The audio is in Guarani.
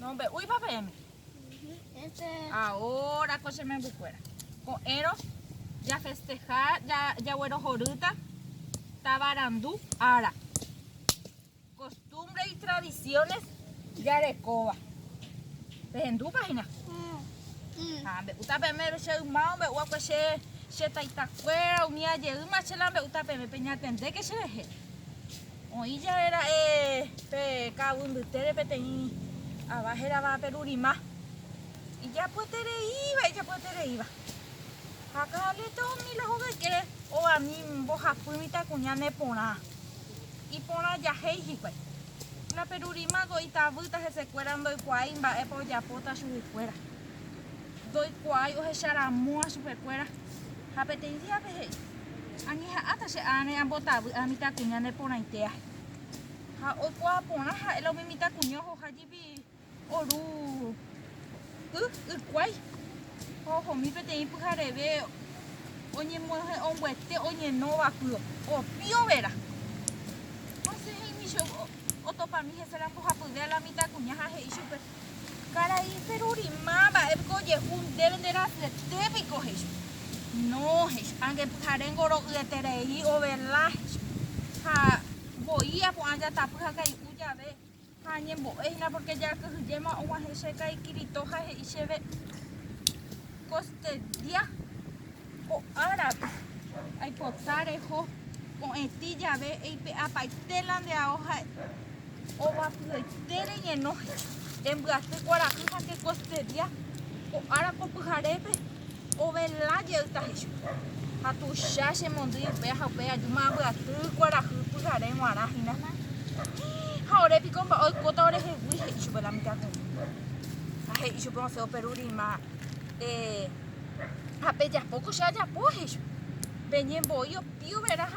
Nombe'úipa peẽme? Ahora ko che membykuéra, ko'ẽrõ jafesteha, jaguerohorýta tavarandu ára, kostumbre itradisiones jarekóva. Pehendúpa hína? Ha mbe'úta peẽme che yma ombe'úva'ekue che taitakuéra, umi ajeýma che la mbe'úta peẽme, peñatendéke cherehe. Oĩ jave ra'e pe ka'aguy mbytére peteĩ ava hérava Perurima, ijapyetereíva, ijapyetereíva. Ha Carlito umi la hoveke ovani mbohapy mitãkuña ne porã, iporã jahéi hikuái. La Perurima ko itavýta hesekuéra ndoikuaái mba'épa ojapóta chuguikuéra, ndoikuaái ohecharamo'ã chupekuéra ha peteĩ díape he'i. Añeha'ãta che ág̃a ambotavy ha mitãkuña neporãite ahy. Ha oikuaa porã ha'e la umi mitãkuña ohoha jepi oru y ykuái ha ohomi peteĩ pyhareve oñemoñe'ẽ ombyete oñenóva py opiovera. Hasẽ he'ími che otopami hese la mbohapyve a la mitãkuña ha he'i chupe. Karai Seruri, Máva'epiko ojehu ndéve nde rasyetépe piko? he'icha. No, he'icha, ange pyhare ngoro'yeterei ovela, he'icha. Ha voi apu'ã jatapy ha kai'u jave ha añembo'e hína pórke jakyhyjéma og̃uahẽ che kaikirito ha he'i chéve, Kostedía, Ko árape, aipota reho ko'ẽti jave eipe'apaite la nde ao ha ovapyete reñeno rembyaty kuarahy ha ke kostedia ko ára ko pyharépe ovela jey tahe chupe. Ha tuicha che mondýi upéa ha upéi aju ma'ãmbyaty kuarahy pyhare g̃uarã hína. Hii, ha ore piko mba'e oikóta orehegui, he'i chupe la mitãkuña. Ha he'i chupe osẽ operu rima, eh. ha pejapo ko che ajapo, he'ívo. Peñembo'i opiuverã ha.